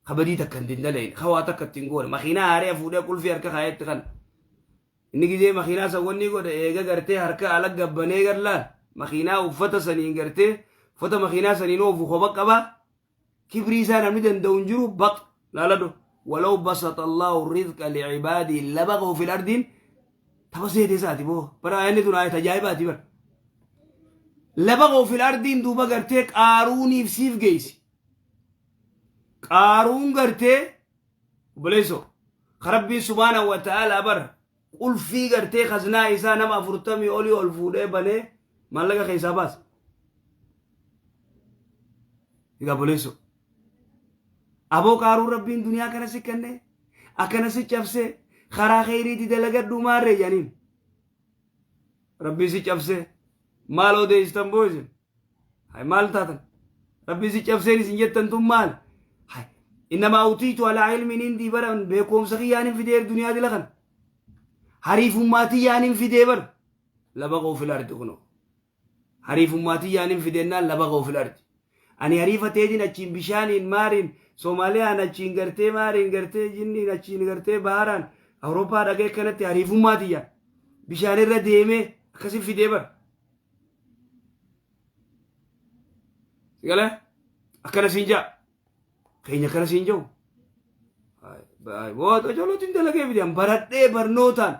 ka badii takka hin dindalayin ka waa takka ittiin goone makiinaa haaree fuudhee qulfii harka kaayetti kan inni gizee makiinaa san wanni godhe eega gartee harka ala gabbanee garlaan makiinaa uffata saniin gartee uffata makiinaa saniin oofu koba qaba kibrii isaa namni danda'u hin jiru baq laalado walaw basata allahu rizqa licibaadii labaqa ofil ardiin Taba seetee saati boo. Bara aayilli tun aayata ajaa'ibaati bara. Laba koo fil ardiin duuba gartee qaaruuniif siif geessi. Qaaruun gartee obboleessoo ka rabbiin subhaana wa ta'aalaa bara qulfii gartee kaznaa isaa nama afurtamii olii ol fuudhee banee maallaqa keessaa baasa. Egaa obboleessoo. Aboo qaaruun rabbiin duniyaa kana si kenne akkana si cabse karaa keeyriiti dalagadhuu maarree janiin. Rabbiin si cabse maal odeesstan boo isin. Hay maal taatan? Rabbiin si cabseen isin jettan tun maal? Hay innamaa utiitu alaa ilmiin indii bara beekumsa kiyyaan hin fidee duniyaa dila kana. Hariifummaa tiyyaan hin fidee bara. Labaqoo fil ardi kunoo. Hariifummaa tiyyaanin fidennaan lafa koo fil ardi. Ani hariifa teetin achiin bishaaniin, maariin, Somaliyaan achiin gartee maariin gartee jinniin achiin gartee baharaan Awurooppaa dhaqee akkanatti hariifummaa tiyyaan bishaanirra deemee akkasin fidee bar. Sigala akkana siin jaa. Keenya akkana siin jau. Boota jolootiin dalagee fidee baradhee barnootaan.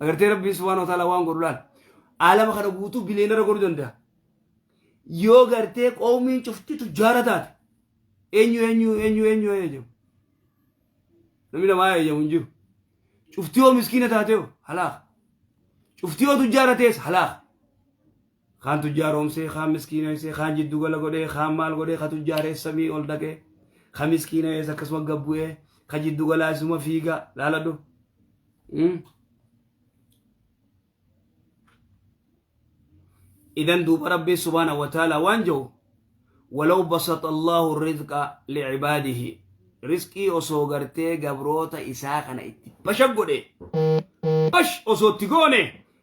Agartee Rabbiin subhaanahu wa ta'aalaa waan godhu laal. Aalama kana guutuu biliyeenara godhuu danda'a. Yoo gartee qoomiin cufti tujjaara taate eenyu eenyu eenyu eenyu eeyyamu. Namni namaa eeyyamu hin jiru. Cufti yoo miskiina taate hoo halaaka. Cufti yoo tujjaara ta'es halaaka. Kaan tujjaaroomsee, kaan miskiinoysee, kaan jiddu gala godhee, kaan maal godhee, ka tujjaaree samii ol dhaqee, ka miskiinoyees akkasuma gad bu'ee, ka jiddu galaa isuma fiiga laaladhu. Mm. Idan duuba Rabbi subhaanahu wa ta'ala waan jedhu walaw basata Allahu rizqa li'ibaadihi rizqii osoo gartee gabroota isaa kana itti basha godhe bash osoo itti goone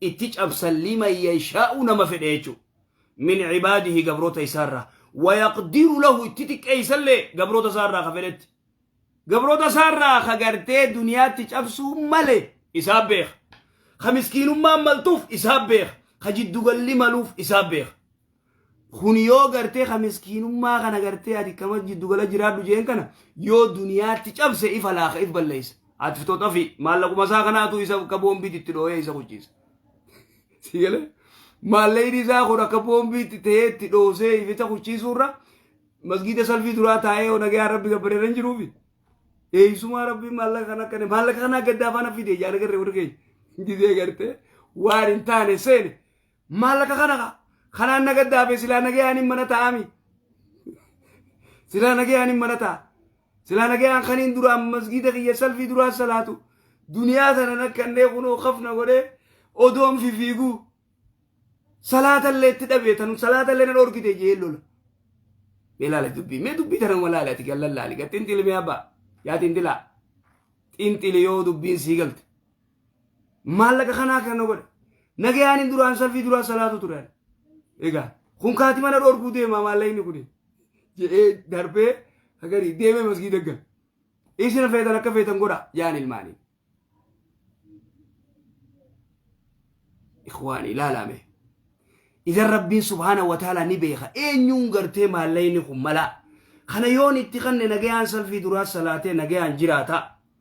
itti cabsan liman yashaa'u nama fedhe jechuu min cibaadihi gabroota isaarraa wayaqdiru lahu itti xiqqeeysallee gabroota isaarraa ka fedhetti gabroota isaarraa ka gartee duniyaatti cabsuu male isaa beeka ka miskiinummaan maltuuf isaa beeka ka jiddugalli maluuf isaa beeka Kun yoo gartee ka miskiinummaa kana gartee ati kama jiddu gala jiraadhu jeen kana yoo duniyaatti cabse ifa laaka if balleessa. Ati fitoo xafi maallaquma isaa kanaatu isa akka boombiitti itti dhooyee isa kuchiisa. Si galee? Maallaqni isaa kun akka boombiitti ta'ee itti dhoosee ificha kuchiisuurra masgiida salfii duraa taa'ee yoo nagayaan rabbi gabbareera hin jiruufi. Eeysumaa rabbi maallaqa kana akkana maallaqa kana gaddaa faana fide yaa nagarree warri keenya. Gizee gartee waan hin taane seene Maallaqa kana kaa. Kanaan na gaddaafee silaa nagayaan hin mana taa'ami. Silaa nagayaan hin mana taa'a. Silaa nagayaan kaniin duraan masgiida kiyya salfii duraan salaatu duniyaa tana nakkannee kunoo kafna godhee odoon fifiiguu salaatallee itti dhabee tanu salaatallee na dhorkite jee lola. Mee laala dubbii mee dubbii tana ma laala ati gallan laali gaa xinxili mee abbaa yaa xinxilaa xinxili yoo dubbiin sii galte. Maallaqa kanaa kan na godhe. Nagayaaniin duraan salfii duraa salaatu ture. ani. Egaa kun kaati mana dhorkuu deema maallaqni kun jedhee darbee agarii deemee masgiida gala. Isin feetan akka feetan godha jaan ilmaanii. Ikhwaan ilaalame. Idan Rabbiin subhaana wa ta'ala ni beeka. Eenyuun gartee maallaqni kun malaa. Kana yoon itti kanne nagayaan salfii duraa salaatee nagayaan jiraata.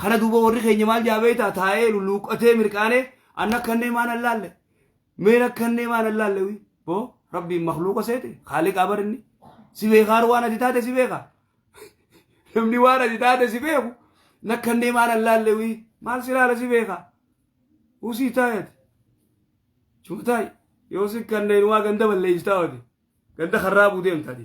Kana duuba warri keenya maal jaa beektaa taa'ee lulluuqqatee mirqaanee an akkannee maan allaalle meen akkannee maan allaalle wi boo rabbiin makluuqa seete haaliqaa barinni si beekaar waan ati taate si beeka namni waan ati taate si beeku nakkannee maan allaalle wi maal si laala si beeka usii taayati chumataay yoo si kanneen waa ganda balleessitaa wati ganda karraa buudeemtaati.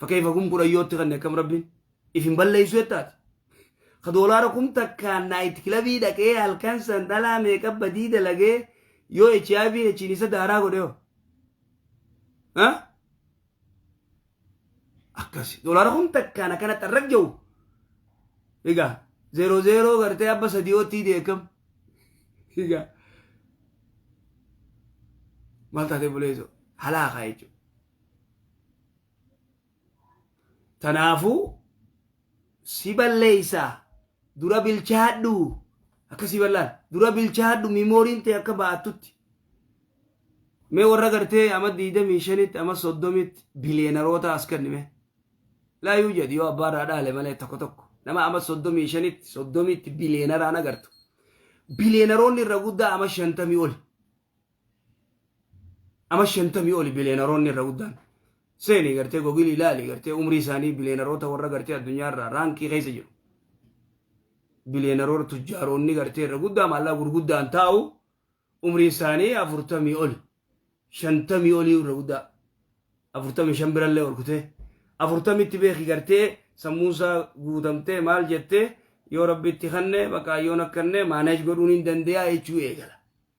Fakkeef akum kudhan yootti kanne akkam rabbiin if hin balleessu jettaati. Ka doolaara kum takkaan naayit kilabii dhaqee halkan san dhalaa meeqa badii dalagee yoo HIV achiin isa daaraa godhe hoo. Ha? Akkasi. Doolaara kum takkaan akkana xarraq jiru. Egaa zeeroo zeeroo gartee abba sadii oottii deekam. Egaa maal taatee buleesoo halaa kaa jechuudha. Tanaafuu si balleeysaa dura bilchaadhu akka si ballaan dura bilchaadhu mimooriin ta'e akka ba'attutti. Mee warra gartee ama 25tti ama 30tti biliyeenaroota as kennime. Laa yuu jedhi yoo abbaa irraa dhaale malee tokko tokko nama ama 35tti 30tti biliyeenaraan agartu. Biliyeenaroonni irra guddaa ama 50 oli. Nama shantamii oli biliyeenaroonni irra guddaan. Seeni gartee gogilii ilaali gartee umrii isaanii biliyeenaroota warra gartee addunyaa irraa raankii keessa jiru. Biliyeenaroota tujjaaroonni gartee irra guddaa maallaqa gurguddaan taa'u umriin isaanii afurtamii oli. Shantamii olii irra guddaa. Afurtamii shan birallee ol kutee. Afurtamitti beeki gartee sammuusaa guutamtee maal jettee yoo rabbitti kanne baqaayyoon akkanne maaneej godhuun hin dandeeyaa jechuu eegala.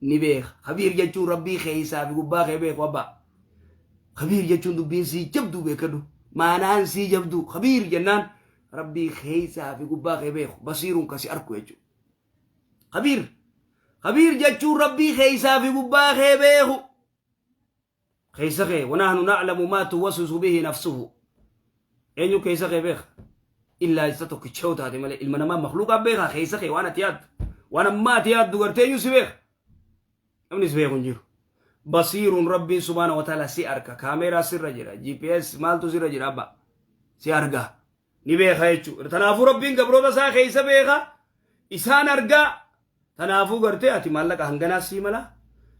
ni beeka. Kabiir jechuun rabbii keessaa fi gubbaa kee beeku abbaa. Kabiir jechuun dubbiin sii jabduu beekadhu. Maanaan sii jabduu kabiir jennaan rabbii keessaa fi gubbaa kee beeku basiiruun kasi arku jechuudha. Kabiir. Kabiir jechuun rabbii keessaa fi gubbaa kee beeku. keessa kee wanaahnu na'lamu maa tuwaswisu bihi nafsuhu eenyu keessa kee beeka illaa isa tokkicha yoo taate malee ilma namaa makluuqaa beekaa keessa kee waan ati yaaddu waan ammaa ati yaaddu gartee eenyu si beeka namni si beeku hin jiru basiiruun rabbiin subhaana wataala si arka kaameeraa sirra jira gps maaltu sirra jira abba si argaa ni beeka jechuudha. Tanaafuu Rabbiin gabroota isaa keessa beeka isaan argaa tanaafuu gartee ati maallaqa hanganaa sii mala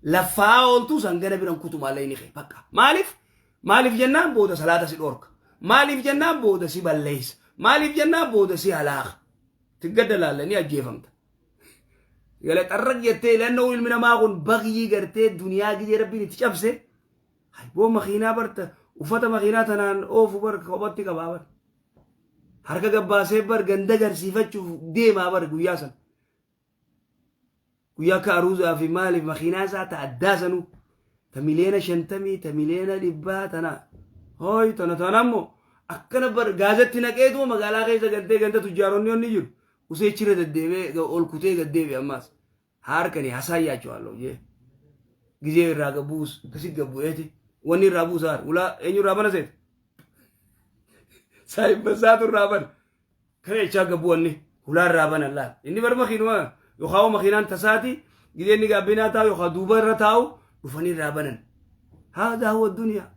laffaa ooltuus hangana biran kutu maallaqni kee bakka. Maaliif? Maaliif jennaan booda salaata si dhorka. Maaliif jennaan booda si balleessa. Maaliif jennaan booda si halaaka. Tiggadda laalla ni ajjeefamta. Gala xarraq jettee ilannoo ilmi namaa kun bagyii gartee duniyaa gizee rabbiin itti cabse. Hayboo makiinaa bar ta- uffata makiinaa tanaan oofu bar kophatti qabaa bar. Harka gabbaasee bar ganda garsiifachuuf deemaa bar guyyaa san. Guyyaa akka aruuzaa fi maaliif makiinaa isaa ta addaa sanuu ta miliyoona shantamii ta miliyoona dhibbaa tana hooy tana tana ammoo akkana bar gaazetti naqeetuma magaalaa keessa galtee ganda tujjaaronni onni jiru useechirra deddeebee ga- ol kutee gad deebi'e ammaas Haarkani hasaayyaachuwaallo jee gizee irraa gabbuus akkasi gabbu'eeti wanni irraa buusa haar ulaa eenyu irraa bana seet saayibbasaatu irraa bana kana jechaa gabbu wanni ulaa irraa bana laal inni bar makiinuma yookaan makiinaan tasaati gizee inni gaabbinaa taa'u yookaan duuba irra taa'u dhufanii irraa banan haadaa huwa duniyaa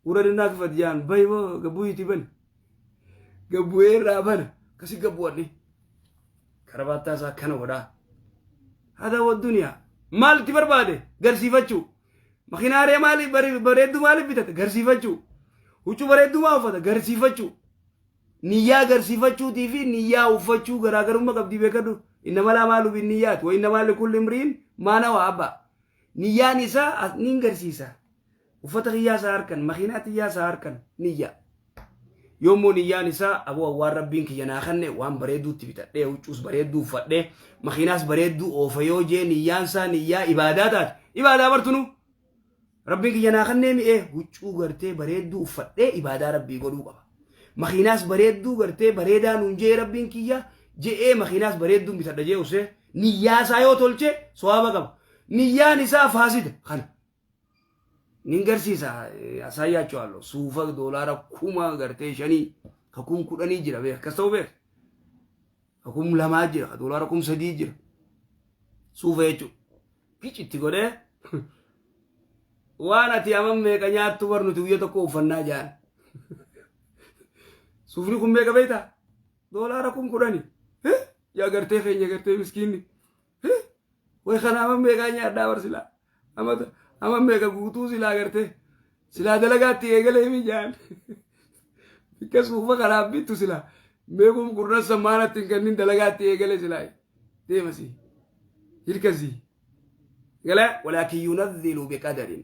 Ura dinaa kifat jaan bahi bo gabu iti bani. Gabu era bana kasi gabu adni. Karabata sa kana wada. Hada wa dunya. Mal ti barbade garsifachu. Makinare mali bari baredu mali bitat garsifachu. Hucu baredu ma ufata garsifachu. Niyyaa garsifachuutii fi niyyaa uffachuu garaagarummaa qabdi beekadhu. Inna malaa maalu bin niyyaat wa inna maali kulli imriin maana waa abba. Niyyaan isaa as niin garsiisa. uffata kiyyaa isaa harkan makiinaa tiyyaa isaa harkan niyyaa yoommoo niyyaan isaa aboo waan rabbiin kiyya naa kanne waan bareedduutti bitadhee huccuus bareedduu uffadhee makiinaas bareedduu oofa yoo jee niyyaan isaa niyyaa ibaadaa taate ibaadaa bartunu rabbiin kiyya naa kannee mi'ee huccuu gartee bareedduu uffadhee ibaadaa rabbii godhuu qaba makiinaas bareedduu gartee bareedaa nuun jee rabbiin kiyya je'ee makiinaas bareedduun bitadha jee usee niyyaa isaa yoo tolche sowaaba qaba niyyaan isaa faasida kana nin garsiisa asaayyaachwaallo suufa doolaara kuma gartee shanii ka kum kudhanii jira beek akkas ta'uu beek ka kum lamaa jira ka doolaara kum sadii jira suufa jechuun gici itti godhee waan ati amma meeqa nyaattu bar nuti guyya tokko uffannaa jaan suufni kun meeqa beektaa doolaara kum kudhanii yaa gartee keenya gartee miskiinni Way kana amma meeqaa nyaadhaa bar silaa. Amma amma meeqa guutuu silaa gartee. Silaa dalagaatti eegalee mi jaan. Bikkas fuufa kanaaf bittu silaa. Meequm kurnan sammaanatti hin kennin dalagaatti eegalee silaa. Deemasii. Hirkasii. Galee walaakin yunazzilu biqadarin.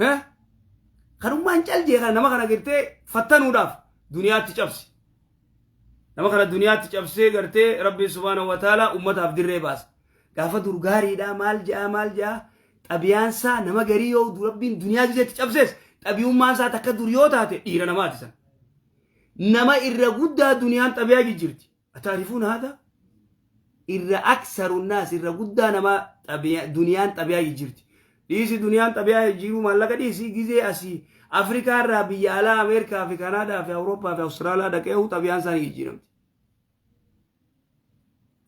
Heh? Kanummaan cal jee kana nama kana gartee fattanuudhaaf duniyaatti cabsi. Nama kana duniyaatti cabsee gartee Rabbiin subhaanahu wa ta'ala ummataaf dirree baasa. Gaafa dur gaariidha maal ja'a maal ja'a xabiyaan isaa nama garii yoo du- Rabbiin duniyaa gizeetti cabsees xabiyummaan isaa takka dur yoo taate dhiira namaati san. Nama irra guddaa duniyaan xabiyaa jijjirti. أتعرفون هذا؟ irra aksaru naas irra guddaa namaa xabiya- duniyaan xabiyaa jijjiirti. Dhiisi duniyaan xabiyaa jijjiiruu maallaqa dhiisi gizee asii Afrikaa irraa biyya alaa Ameerikaa fi Kanaadaa fi Awurooppaa fi Awustiraalaa dhaqee huu xabiyaan isaanii jijjiiramti.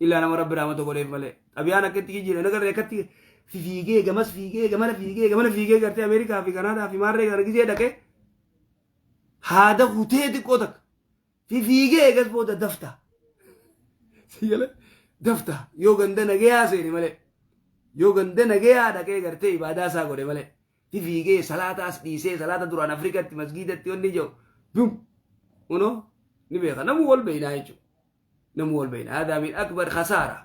Illaa nama rabbi raamata godheef malee xabiyaan akka itti jijjiiran agarree akkatti fi fiigee gamas fiigee gamana fiigee gamana fiigee gartee Ameerikaa fi Kanaadaa fi maarree gara gizee dhaqee haada kutee xiqqoo takka. fifiigee eegas booda dafta. Si jala dafta yoo ganda nagayaa seene malee. Yoo ganda nagayaa dhaqee gartee ibaadaa isaa godhe malee. Fifiigee salaata as dhiisee salaata duraan Afrikatti masgiidatti wanni jiru dum unoo ni beeka namuu wal beeynaa jechuudha. Namuu wal beeynaa. Haadaa min akbar khasaara.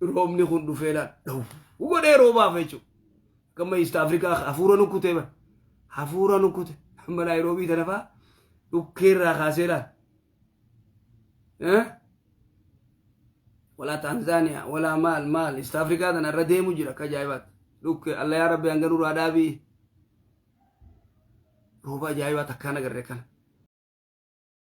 roobni kun dhufee laal dhawu godhee roobaaf jechuudha. Gamma East Afrikaa hafuura nukkutee bara hafuura nukkute amma Naayiroobii tana fa'aa dhukkeerraa kaasee laal. Walaa Taanzaaniyaa walaa maal maal East Afrikaa tana irra deemu jira akka ajaa'ibaatti. Dhukkee alla yaa rabbi hanga nurraa dhaabii. Rooba ajaa'ibaa takkaan agarre kana.